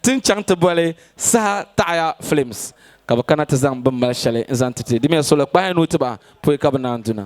Ti ni chaŋ ti boli saha taɣaya films ka bɛ kana ti zaŋ bini mali shɛli n-zaŋ ti ti dimiya soli kpahi nuu ti ba poi ka bɛ naan du na.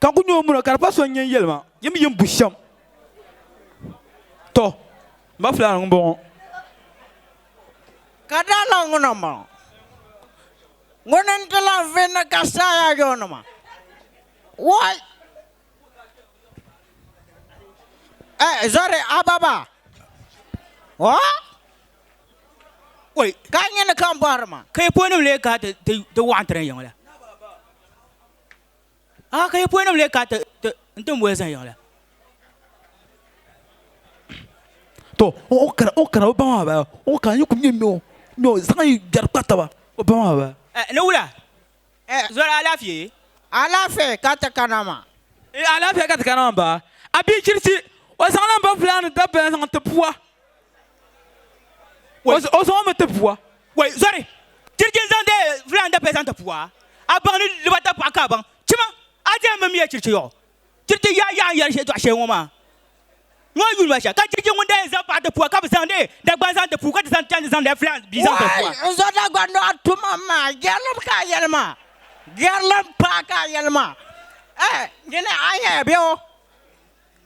ka n ku nyɛ o muna ka di pa so n yɛn yɛli ma yim yim bu shɛm to n ba fulani n bɔŋɔ ka daa lan ŋuna n bɔŋɔ ŋuni n ti lan vi ni ka saaya yɔɔnima wɔi eh, zɔri ababa o wɔi ka nyini ka n bɔhiri ma ka yi pɔnim lee ka ti ti ti wɔɣa n ti na yiŋ la a ka yi pɔi nim le ka n tin boli zahi yiŋla to o kana o kana o ba maa baya o kana yi ku nyɛ noo noo zaŋ yi gbɛri kpa taba o ba maa baya eh, ni wula eh, zɔra alaafee alaafee ka ti kana ma eh, alaafee ka ti kana ma ba a bia chirisi o zaŋla n ba fulani dabba zaŋ ti puwa o zaŋ mi ti pua wai zɔri chirichi n zaŋ de filan da pɛ zaŋ ti pua a baŋ ni liba ta paɣa ka a baŋ chima a di yɛn mimiya chirichi yɔɣu chirichi yaa yaa n yɛri shɛli dɔɣi shɛli ŋɔ maa ŋɔ yuli ma shɛli ka chirichi ŋun da yɛn zaŋ paɣa ti pua ka bi zaŋ de dagban zaŋ ti puu ka ti zaŋ chaŋ ti zaŋ de filan bia zaŋ ti pua n zɔ dagban dɔɣi tuma maa gɛrilim ka a yɛli maa gɛrilim paa ka a yɛli maa eh nyini a yɛya bɛ o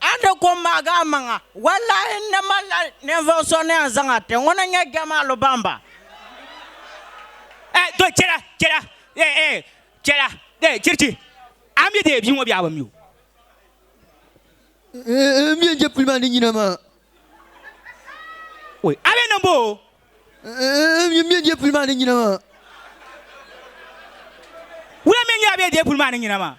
A ni ku n maagi a maŋa. Wallaahi n ni malila ninvuɣ so ni yɛn zaŋ a ti ŋun n-nyɛ Jamalu Bamba. Ɛɛ to chɛla chɛla ɛɛ ɛɛ chɛla ɛɛ chirichi a ni mi deei bia ŋɔ bee a bi mi o. Ɛɛ ɛɛ m mi yɛn je puli maa ni nyina maa. Oi a be niŋ boo. N mi n depuli maa ni nyina maa. Wula mi n nyɛ a bɛ depuli maa ni nyina maa?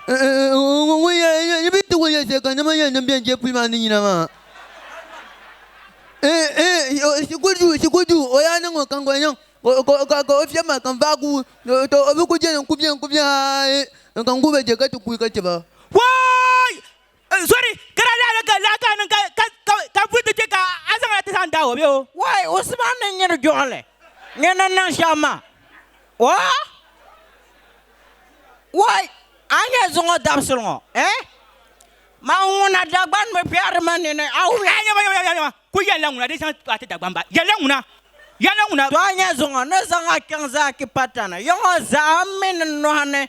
Ŋun yɛn yi bi ti kuli yɛn shɛli ka nima yɛn niŋ bɛ depuli maa ni nyina maa. Shikuru duu shikuru duu o yaa niŋ o kaŋ ka o niŋ ka o fiɛbi maa kam vaai guui tɔ o bi ku jɛli n ku bɛ n ku bɛ haa ka n ku ba je ka ti kuui ka ti ba. Waai! N zɔri ka daa lahi ka lahi ka niŋ ka ka ka ka vuhi ti chɛ ka a zaŋ a ti zaŋ daag o bɛ o. Wai Usman ni nyini juɣili nyɛ ni niŋ shɛm maa oo wai a ni nyɛ zuŋɔ dabisili ŋɔ eh ma ŋuna Dagban bi kpɛhiri ma nini a wula. Aa nyama nyama nyama ku yɛlila ŋuna di zaŋ a ti Dagban ba yɛlila ŋuna yɛlila ŋuna. To a nyɛ zuŋɔ ni zaŋ a kpiɛŋ zaa ki patana yiŋɔ zaa mini nɔhi ni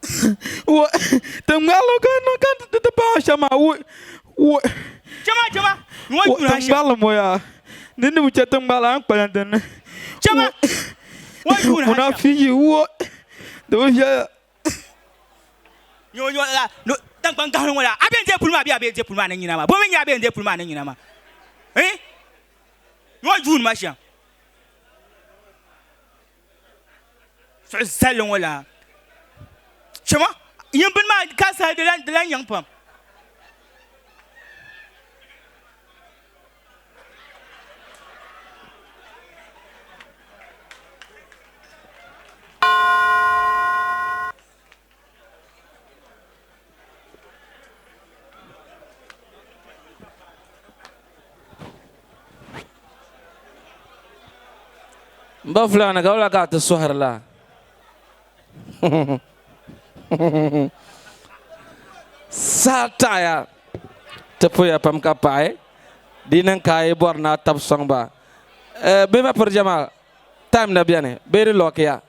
Ti ŋmaligi ka niŋ ka ti ti paɣa shɛma ŋmaligi ŋɔ yaa ni ni bi chɛ ti ŋmaligi a ni kpalim din ni ŋuna fi yi wo di bi viɛla tiŋkpaŋ gahi ni ŋɔ yaa a bɛ ni deei puli maa bee a bi yɛn deei puli maa ni nyina maa bɔ mi n-nyɛ a bɛ yɛn deei puli maa ni nyina maa nyɔ yuuni ma shɛm suɣu sali ŋɔ la chɛma yin bini maa ka saha di lan di lan nyaŋ pam Mba fulani ka wala ka ti sohirila. Saa taɣaya ti puya pam ka paɣi di niŋ ka yi bɔri na tab sɔŋba. Eh, bɛ ma piri jɛma. Time na bɛni bee di lock ya.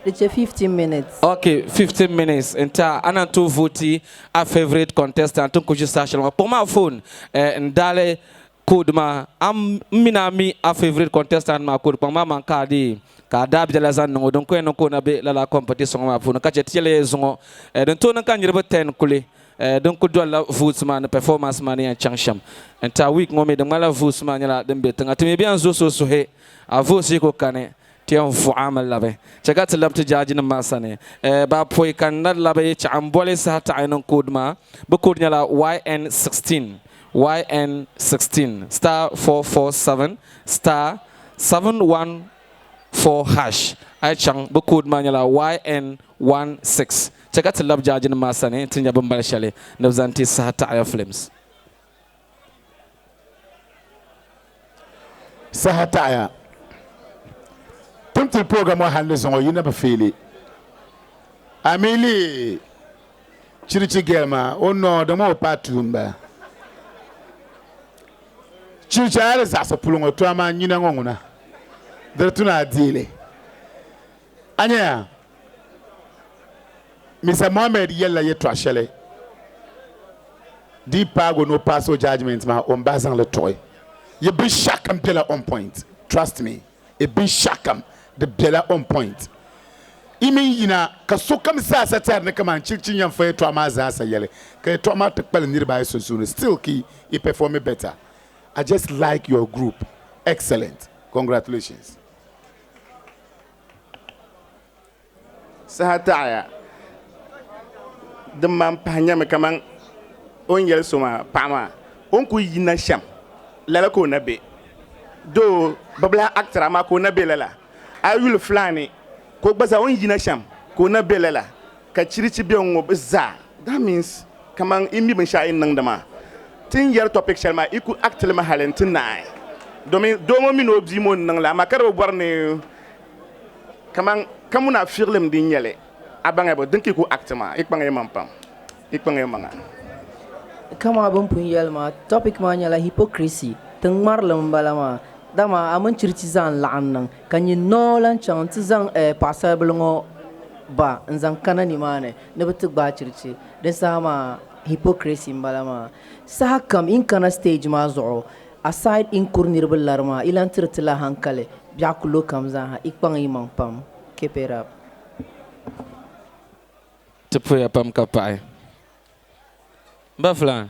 Di chɛ 15 minutes. Ok 15 minutes n tɛha a na tooi vote a favourite contestant n ku ʒi saha shɛli ŋɔ. Kpuɣi ma a phone eh, n daali code maa. A m mi ni a mi a favourite contestant maa code kpaŋ maa man ka a deei ka a daabiɛla zaŋ niŋ o. Din ku yɛn niŋ ka o na be lala competition ŋɔ maa puuni ka chɛ ti yɛliya yi zuŋɔ eh, din tooi niŋ ka niriba 10 kuli Din kuli dolila votes maa ni performance maa ni yan chaŋ shem n ti a week ŋɔ mi di ŋmanila votes maa nyɛla din be tiŋa ti mi bɛn zo so suhi a votes yi ku kani ti yan vuɣi a mi labi che ka ti labi ti jaaji nim maa sani ba poi ka n na labi chaɣi n boli saha taɣi niŋ code maa bi code nyɛla yn 16 yn 16 star 447 star 71 4 hash. A yi chaŋ, bɛ code maa nyɛla YN16. Chɛ ka ti labi jaajinim maa sani nti nya bimbali shɛli ni bɛ zaŋ ti saha taɣaya Flames. Saha taɣaya Tumtili pooga ŋɔ hali ni zaŋ o yi na bi feeli. A mi lihi chirichi girl maa, o noo di ŋɔ o paai tuun m-bala. Chiricha a di zaɣisi puli ŋɔ to amaa nyina ŋɔ ŋuna diri tuna a deeli. A nya ya? Mister Mohammed yɛlila yɛtɔɣ shɛli dii paagi o ni o paasi o judgement maa o ni bahi zaŋ li tuɣi. Yi binshɛɣu kam bela on point. Trust me. e binshɛɣukam, di bela on point. Yi mi ni yina ka sokam zaasa tɛri ni kaman chirichi n-yɛn fɔ yɛltɔɣa maa zaasa yɛli, ka yɛltɔɣa maa ti kpalim niriba ayi sunsuuni, still ki yi performi better. I just like your group. Excellent. Congratulations. Saha taɣiya din man pahi nyɛmi kaman o ni yɛli so maa, Paɣa maa, o ni kul yina shɛm, lala ka o na be. Doo, bibilahi Actra maa ka o na be lala. A yi yuli Flaani ka o gba zaa o ni yina shɛm ka o na be lala. Ka chirichi be ŋ-ŋɔ bɛ zaa. That means kaman yi mi binshɛɣu yi ni niŋdi maa. Ti ni yɛri topic shɛli maa, yi ku act li mi hali nti naai domin doo ŋɔ mini o bia ŋɔ ni niŋ li amaa ka di bi bɔri ni Kaman ka munafiɣilim din nyɛ li, a baŋya bɔ din ka yi ku act maa? Yi kpaŋya man pam. Yi kpaŋya maŋa. Kamaa bɛ ni pun yɛli maa, topic maa nyɛla hypocrisy, tiŋ'ŋmarilim m-bala maa. Dama a mini chirichi zaa n-laɣim niŋ, ka nyin noo lan chaŋ nti zaŋ eh paɣisaribila ŋɔ ba n-zaŋ kana nimaani ni bɛ ti gbaai chirichi. Din saha maa hypocrisy m-bala maa. Sahakam yi ni kana stage maa zuɣu, Aside in kuri niriba lari maa, ilan tiri ti la hankali, biɛɣu ku lo kam zaa ha, ikpaŋ imaŋ pam. Keep it up. Ti puhiya pam ka paɣi. N ba Flan.